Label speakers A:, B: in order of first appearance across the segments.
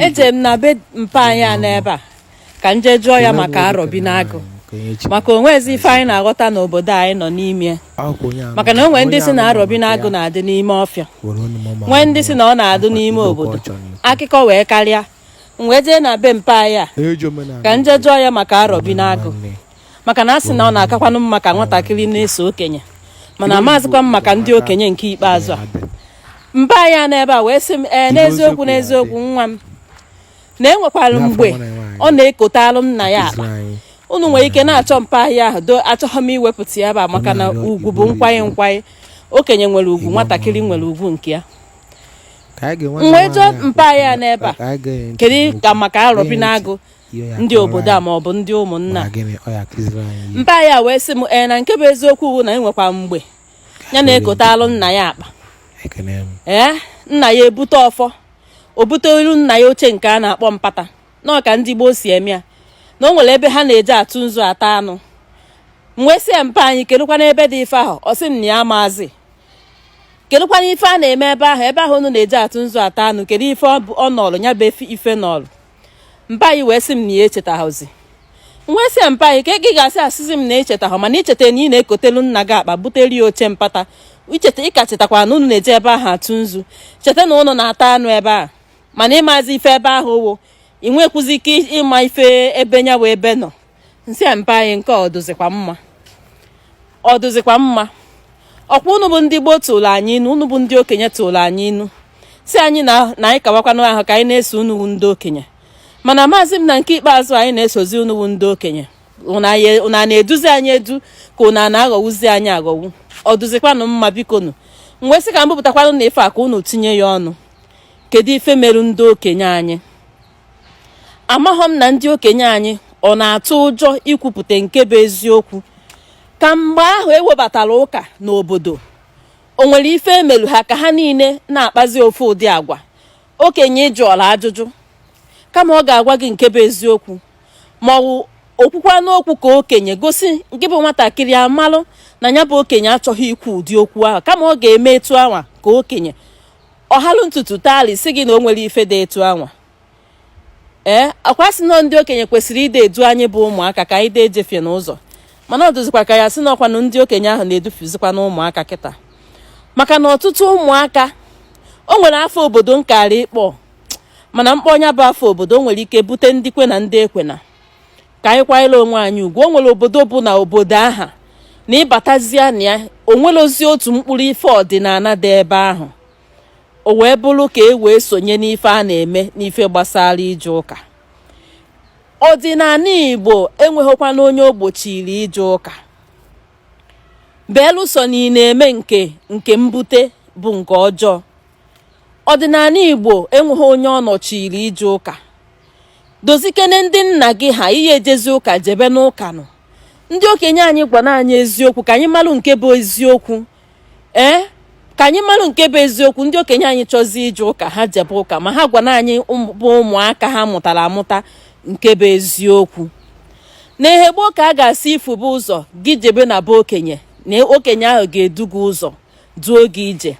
A: eje m na be mpa anyị a n'ebe a ka m jee jụọ ya maka arọbinagụ maka o nwezi ife anyị na-aghọta n'obodo anyị nọ n'ime maka na o nwe ndị sị na arọbinagụ na-adị n'ime ọfịa nwee ndị sị na ọ na-adụ n'ime obodo akụkọ wee karịa m wee jee na be mpa anyị a ka m jee jụọ ya maka arọbinagụ maka na a sị na ọ na-akakwanụ mma ka nwatakịrị na-eso okenye mana amazịkwa m maka ndị okenye nke ikpeazụ a mpa anyị n'ebe a wee sị m ee eh, n'eziokwu n'eziokwu nwa m na e nwekwara mgbe ọ na-ekotalụ nna ya akpa unu nwere ike na-achọ mpa anyị a ahụ do achọghị m iwepụta ya ebe a maka na ugwu bụ nkwanye nkwanye okenye nwere ugwu nwatakịrị nwere ugwu nke ya m wee jụọ mpa anyị a n'ebe a kedu ka maka arọbinagụ ndị obodo a ma ọ bụ ndị ụmụnna mpa anyị a wee sị m ee na nke bụ eziokwu bụ na e nwekwa mgbe ya na-ekotalụ nna ya akpa ee nna ya ebute ọfọ o butelu nna ya oche nke a na-akpọ mpata na ka ndị gboo si eme ya na o nwere ebe ha na-eje atụ nzu ata anụ m wee sị ya mpa anyị kedụkwana ebe dị ife ahụ ọ sị m na ya amazị kedụkwana ife a na-eme ebe ahụ ebe ahụ unu na-eje atụ nzu ata anụ kedu ife ọ nọlụ ya bụ ife nọlụ mpa anyị wee sị m na ya echetaghịzi m wee sị mpa anyị ka ị ga-esi asịzi m na i chetaghị mana i cheta na ị na-ekotelu nna gị akpa butere ya oche mpata icheta ị ka chetakwa na unu na-eje ebe ahụ atụ nzu cheta na unu na-ata anụ ebe a mana ị mazi ife ebe ahụ wụ ị nwekwuzi ike ịma ife ebe nya wụ ebe nọ m sị ya mpa anyị nke ọ dụzikwa mma ọ dụzikwa mma ọkwa unu bụ ndị gboo tụrụ anyị inu unu bụ ndị okenye tụrụ anyị inu sị anyị na anyị kawakwanụ ahụ ka anyị na-eso unu bụ ndị okenye mana amazị m na nke ikpeazụ anyị na-esozi unu bụ ndị okenye unu a na-eduzi anyị edu ka unu a na-aghọwuzi anyị aghọwu ọ dụzikwanụ mma bikonu m wee sị ka m bupụtakwanụ na ife a ka unu tinye ya ọnụ kedu ife merụ ndị okenye anyị amaghọ m na ndị okenye anyị ọ na-atụ ụjọ ikwupụta nke bụ eziokwu ka mgbe ahụ e webatara ụka n'obodo o nwere ife e melu ha ka ha niile na-akpazi ofu ụdị agwa okenye ị jụọla ajụjụ kama ọ ga-agwa gị nke bụ eziokwu ma o kwukwanụ okwu ka okenye gosi nke bụ nwatakịrị a malụ na ya bụ okenye achọghị ikwu ụdị okwu ahụ kama ọ ga-eme etu anwa ka okenye ọ halụ ntutu tali sị gị na o nwere ife dị etu anwa ee eh, ọ kwa a sị na ndị okenye kwesịrị ide edu anyị bụ ụmụaka ka anyị dee ejefie n'ụzọ mana ọ dụzikwa ka ya sị na ọkwanụ ndị okenye ahụ na-edufuzikwana ụmụaka kịta maka na ọtụtụ ụmụaka o nwere afa obodo m kara ịkpọ mana m kpọọ nya bụ afa obodo o nwere ike bute ndị kwe na ndị ekwena ka anyị kwanyere onwe anyị ugwu o nwere obodo bụ na obodo aha na ị batazia na ya o nwerọzi otu mkpụrụ ife ọdịnala dị ebe ahụ o wee bụrụ ka e wee sonye n'ife a na-eme n'ife gbasara ije ụka ọdịnala igbo enweghịkwana onye o gbochiri ije ụka belụsọ na ị na-eme nke mbute bụ nke ọjọọ ọdịnala igbo enweghị onye ọ nọchiri ije ụka dozikene ndị nna gị ha ị ya-ejezi ụka jebe n'ụka nọ ndị okenye anyị gwara anyị eziokwu ka anyị malụ nke bụ eziokwu ee ka anyị malụ nke bụ eziokwu ndị okenye anyị chọzi ije ụka ha jebe ụka ma ha gwara anyị bụ ụmụaka ha mụtara amụta nke bụ eziokwu na ihe gboo ka a ga-asị i fube ụzọ gị jebe na be okenye na okenye ahụ ga-edu gị ụzọ duo gị ije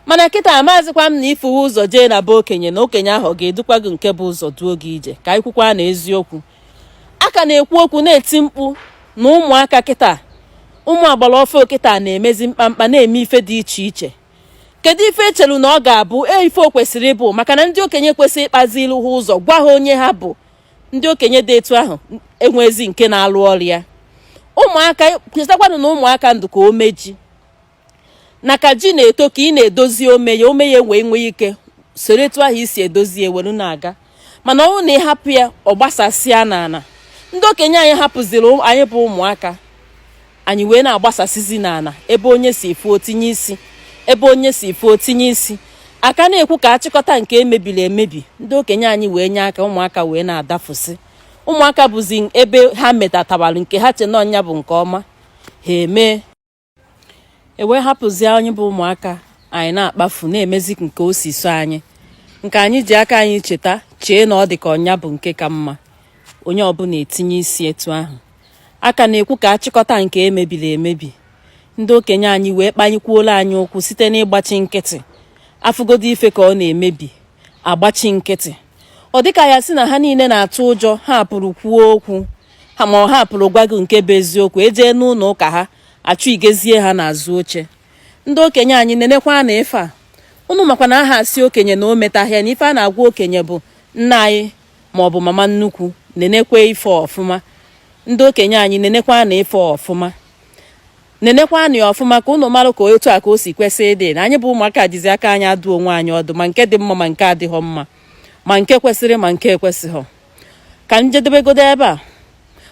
A: mana kịta amazịkwa m na i fuwe ụzọ jee na be okenye na okenye ahụ ọ ga-edukwa gị nke bụ ụzọ duo gị ije ka anyị kwukwa na eziokwu a ka na-ekwu okwu na-eti mkpu na ụmụaka kịta ụmụ agbara ọfụụ kịta na-emezi mkpamkpa na-eme ife dị iche iche kedu ife e chelu na ọ ga-abụ e ife o kwesịrị ịbụ maka na ndị okenye kwesịrị ịkpazilu ha ụzọ gwa ha onye ha bụ ndị okenye dị etu ahụ enwezi nke na-alụ ọrụ ya ụmụaka chetakwanụ na ụmụaka dị ka ome ji na ka ji na-eto ka ị na-edozi ome ya ome ya wee nwee ike soro etu ahụ i si edozi ya welu na-aga mana ọ bụrụ na ị hapụ ya ọ gbasasịa n'ala ndị okenye anyị hapụziri anyị bụ ụmụaka anyị wee na-agbasasịzi n'ala ebe onye si fụ o tinye isi ebe onye si fụ o tinye isi a ka na-ekwu ka a chịkọta nke e mebiri emebi ndị okenye anyị wee nye aka ụmụaka wee na-adafụsị ụmụaka bụzi ebe ha metatabara nke ha che na ọ nya bụ nke ọma ha emee e wee hapụzie anyị bụ ụmụaka anyị na-akpafu na-emezi nke o si sọ anyị nke anyị ji aka anyị cheta chee na ọ dị ka ọ nya bụ nke ka mma onye ọbụla etinye isi etu ahụ a ka na-ekwu ka a chịkọta nke e mebiri emebi ndị okenye anyị wee kpanyekwuola anyị ụkwụ site n'ịgbachi nkịtị a fụgodo ife ka ọ na-emebi a gbachi nkịtị ọ dịka a ya-asị na ha niile na-atụ ụjọ ha pụrụ kwuo okwu ha ma ha pụrụ gwa gị nke bụ eziokwu e jee n'ụlọ ụka ha achụgazie ha n'azụ oche ndị okenye anyị nenekwanụ ife a unu makwa na aha asị okenye na o metahịa na ife a na-agwa okenye bụ nna anyị ma ọ bụ mama nnukwu nenekwa ife ọfụma ndị okenye anyị nenekwanụ ife ọfụma nenekwanụ ya ọfụma ka ụnụ marụ ka etu a ka o si kwesị ịdị na anyị bụ ụmụaka jizi aka anyị adụ onwe anyị ọdụ ma nke dị mma ma nke adịghọ mma ma nke kwesịrị ma nke ekwesịghọ ka m jedebegodo ebe a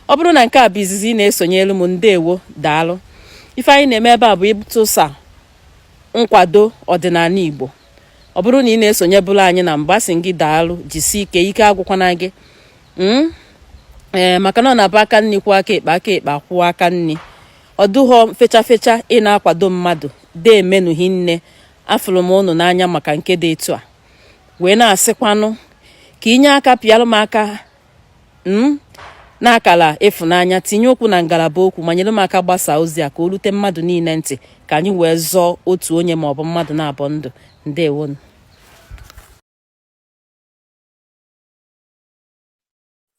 A: ọ bụrụ na nke a bụ izizi ị na-esonyelu m ndewo daalụ ife anyị na-eme ebe a bụ ịtụsa nkwado ọdịnala Igbo ọ bụrụ na ị na-esonyebulu anyị na mbụ a sị gị daalụ jisie ike ike agwụkwana gị hmm? ee eh, maka na ọ na-abụ aka nni kwụọ aka ekpe aka ekpe akwụọ aka nni ọ dụghọ fecha fecha ị na-akwado mmadụ deemenụ hinne afụrụ m unu n'anya maka nke dị etu a wee na-asịkwanụ ka i nye aka pịalụ m aka n'akala ịfụnanya tinye okwu na ngalaba okwu ma nyere m aka gbasaa ozi a ka o rute mmadụ niile ntị ka anyị wee zọọ otu onye maọbụ mmadụ naabọ ndụ ndewonu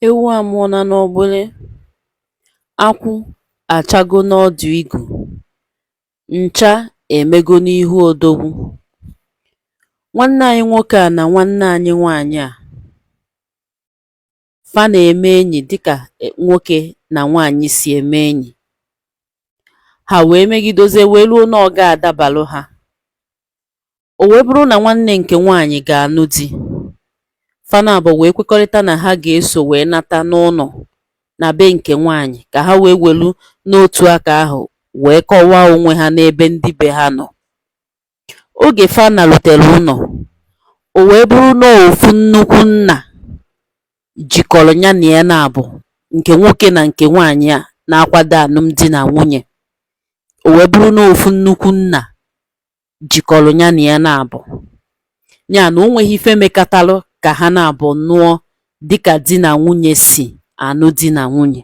A: Ewu amụọna n'ọgbụlị, akwụ achago n'ọdụ igu, ncha emego n'ihu odogwu. Nwanne anyị nwoke a na nwanne anyị nwaanyị a, fa na-eme enyi dịka e, nwoke na nwaanyị si eme enyi. Ha wee megidozie wee ruo na ọ ga-adabalụ ha. O wee bụrụ na nwanne nke nwaanyị ga-anụ di, fa naabọ wee kwekọrịta na ha ga-eso wee nata n'ụlọ na be nke nwaanyị ka ha wee welu n'otu aka ahụ wee kọwaa onwe ha n'ebe ndị be ha nọ. Oge fa narutere ụlọ, o wee bụrụ na ọ ofu nnukwu nna jikọrọ ya na ya naabọ, nke nwoke na nke nwaanyị a na-akwado anụmdi na nwunye. O wee bụrụ na ọ ofu nnukwu nna jikọrọ nya na ya naabọ nya na o nweghị ife mekatalụ ka ha naabọ nụọ dịka di na nwunye si anụ di na nwunye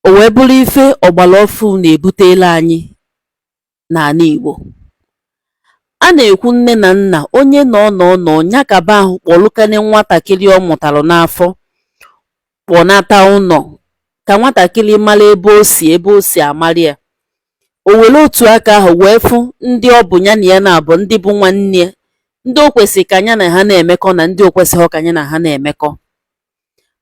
A: o wee bụrụ ife ọgbara ọfụụ na-ebutela anyị n'ana Igbo a na-ekwu nne na nna onye na ọ nọ nọ nya kaba ahụ kpọlụkane nwatakịrị ọ mụtara n'afọ kpọnata ụlọ ka nwatakịrị mara ebe o si ebe o si amara ya o were otu aka ahụ wee fụ ndị ọ bụ nya na ya naabọ ndị bụ nwanne ya ndị o kwesịrị ka nya na ha na-emekọ na ndị o kwesịghị ka nya na ha na-emekọ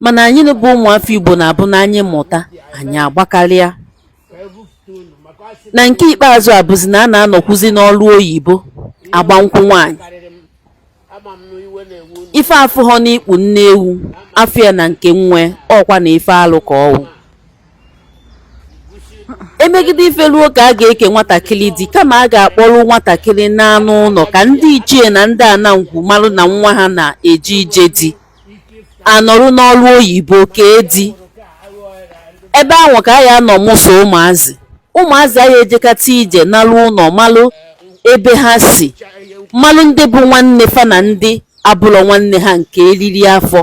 A: mana anyị bụ ụmụafọ Igbo na-abụ na anyị mụta anyị agbakarịa na nke ikpeazụ abụzi na a na-anọkwuzi n'ọrụ oyibo agba nkwụ nwaanyị ife a fụghọ n'ikpu nne ewu a fụ ya na nke nwa ọ kwa na ife alụ ka ọ wụ emegide ife ruo ka a ga-eke nwatakịrị di kama a ga-akpọrọ nwatakịrị naa n'ụlọ ka ndị ichie na ndị ana ngwu marụ na nwa ha na-eje ije di a nọrụ n'ọrụ oyibo kee di ebe ahụ ka a ya-anọ mụso ụmụazị ụmụazị anyị ejekata ije narụ ụlọ malụ ebe ha si malụ ndị bụ nwanne fa na ndị abụlọ nwanne ha nke eriri afọ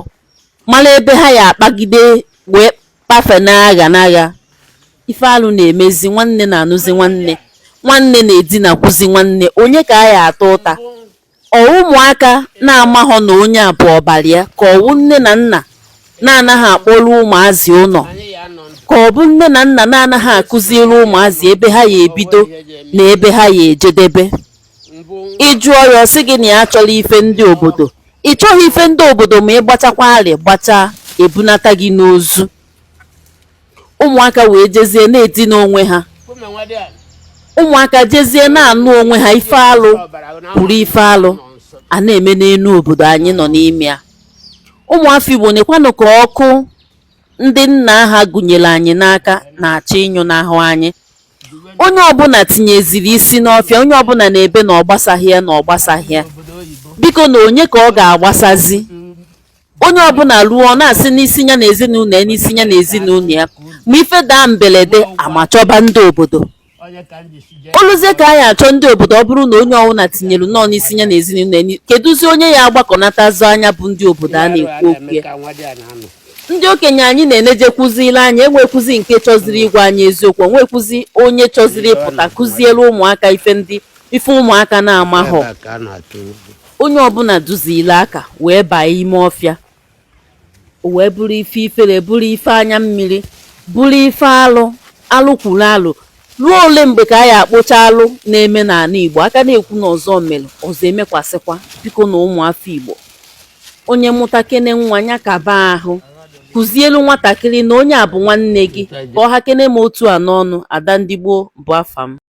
A: malụ ebe ha ya-akpagide wee kpafe n'agha n'agha ife alụ na-emezi nwanne na-anụzi nwanne nwanne na-edinakwuzi nwanne onye ka a ya-ata ụta Ọ ụmụaka na-amaghọ na onye a bụ ọbara ya ka ọ wụ nne na nna na-anaghị akpọrọ ụmụazị ụlọ ka ọ bụ nne na nna na-anaghị akụziri ụmụazị ebe ha ya ebido na ebe ha ya ejedebe ị jụọ ya ọ sị gị na ya achọrọ ife ndị obodo ị chọghị ife ndị obodo ma ị gbachakwa ara gbachaa ebunata gị n'ozu ụmụaka wee jezie na-edina onwe ha ụmụaka jezie na-anụ onwe ha ife alụ kwuru ife alụ a na-eme n'elu obodo anyị nọ n'ime ya ụmụafọ Igbo nekwanụ ka ọkụ ndị nna ha gụnyere anyị n'aka na-achọ ịnyụnahụ anyị onye ọbụla tinyeziri isi n'ọfịa onye ọbụla na-ebe na ọ gbasaghị ya na ọ gbasaghị ya biko na onye ka ọ ga-agbasazi onye ọbụla ruo ọ na-asị n'isi ya na ezinụlọ ya n'isi ya na ezinụlọ ya ma ife daa mberede amachọba ndị obodo oluzie ka anyị achọ ndị obodo ọ bụrụ na onye ọbụla tinyere nọọ n'isi ya na ezinụlọ ya ni- kedụzi onye ya agbakọnatazi nya bụ ndị obodo a na-ekwu okwu ya ndị okenye anyị na-enejekwuzili anyị enwekwuzi nke chọziri ịgwa anyị eziokwu o nwekwuzi onye chọziri ịpụta kụziere ụmụaka ife ndị ife ụmụaka na-amaghọ
B: onye ọbụla duziri aka wee baa ime ọfịa o wee bụrụ ife ifere bụrụ ife anya mmiri bụrụ ife alụ alụ kwuru alụ ruo ole mgbe ka a ya akpụcha alụ na-eme n'ala igbo a ka na-ekwu na ọzọ mere ọzọ emekwasịkwa biko na ụmụafọ igbo onye mụtakene nwa ya kaba ahụ kụzielu nwatakịrị na onye a bụ nwanne gị ka ọ hakene m otu a n'ọnụ ada ndị igbo bụ afa m